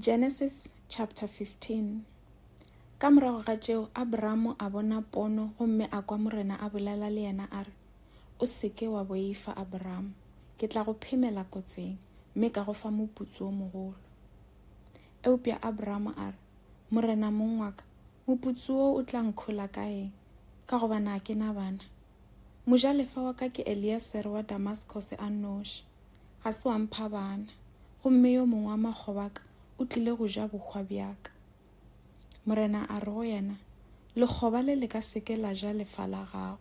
Genesis chapter 15 Ka morago ga tšeo, Abramo a bona pono gomme a kwa Morena a bolela le yena a re, O se ke wa boifa, Abramo. Ke tla go phemela kotseng, mme ka go fa moputso o mogolo. Eupša Abramo a re, Morena mong wa ka, moputso wo o tla nkhola ka eng, ka gobane a ke na bana? Mojalefa wa ka ke Eliesere wa Damaskose a nnoši, ga se wa mpha bana, gomme yo mongwe wa makgoba a ka o tlile go ja bohwa bja ka. Morena a re go yena, Lekgoba le le ka se ke la ja lefa la gago.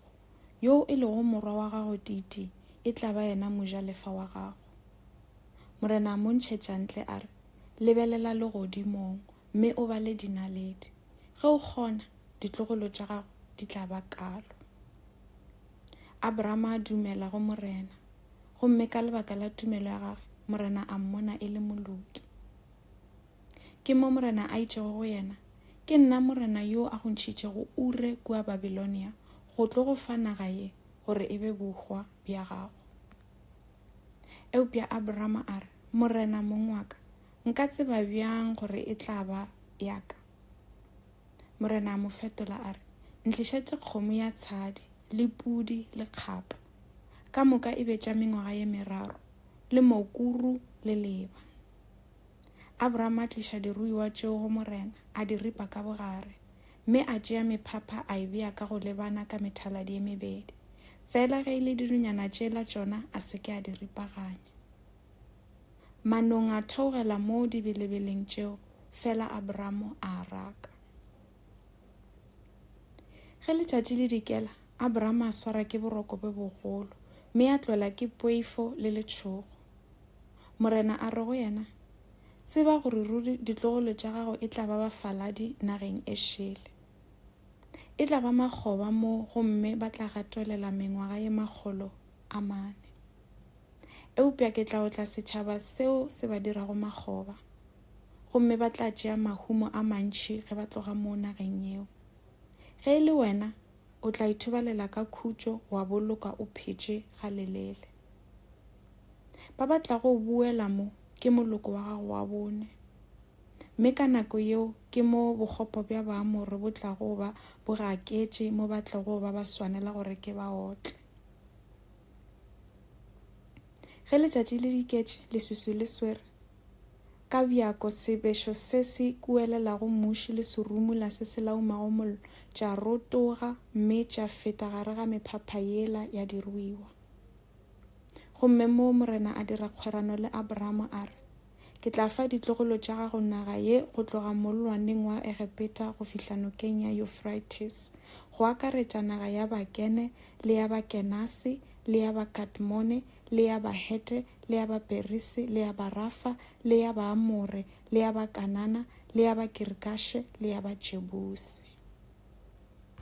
Yoo e lego morwa wa gago titi e tla ba yena mojalefa wa gago. Morena a mo ntšhetša ntle a re, Lebelela legodimong, mme o bale dinaledi. Ge o kgona, ditlogolo tša gago di tla ba kalo. Abrahama a dumela go Morena, gomme ka lebaka la tumelo ya gagwe, Morena a mmona e le moloki. Ke mo Morena a itšego go yena, Ke nna Morena yo a go ntšhitšego Ure kua Babilonia go tlo go fa naga ye gore e be bohwa bja gago. Eupša Abrahama a re, Morena mong wa ka, Nka tseba bjang gore e tla ba ya ka? Morena a mo fetola a re, Ntlišetše kgomo ya tshadi le pudi le kgapa, ka moka e be tša mengwaga ye meraro, le mokuru le leba. Abraham a tliša diruiwa tšeo go Morena, a di ripa ka bogare, mme a tšea mephapha a e bea ka go lebana ka methaladi ye mebedi, fela ge e le dirunyana tšela tšona a se ke a di ripaganya. Manong a theogela moo dibelebeleng tšeo, fela Abramo a raka. Ge letšatši le dikela, Abramo a swara ke boroko bo bogolo, mme a tlwela ke poifo le letšhogo. Morena a re go yena, Tseba gore ruri ditlogolo tša gago e tla ba bafaladi nageng e šele. E tla ba makgoba moo gomme ba tla gatolela mengwaga ye makgolo a mane. eupša ke tla otla setšhaba seo se ba dirago makgoba, gomme ba tla tšea mahumo a mantši ge ba tloga mo nageng yeo. Ge e le wena, o tla ithobalela ka khutšo wa boloka o phetše ga lelele. Ba ba tlago o buela mo ke moloko wa gago wa bone, mme ka nako yeo ke mo bokgopo bja Baamore bo tlago ba bo gaketše mo ba tlogo ba ba swanela gore ke ba otle. Ge letšatši le diketše, leswiswi le swere ka bjako sebešo se se kuelelago mmuši le serumula se se laumago mollo tša rotoga mme tša feta gare ga mephapha yela ya diruiwa. Gomme moo Morena a dira kgwerano le Abramo a re, Ke tla fa ditlogolo tša gago naga ye go tloga mollwaneng wa Egepeta go fihla nokeng ya Euphrates, go akaretša naga ya Bakene le ya Bakenase le ya Bakadmone le ya Bahete le ya Baperise le ya Barafa le ya Baamore le ya Bakanana le ya Bakirikashe le ya Bajebuse.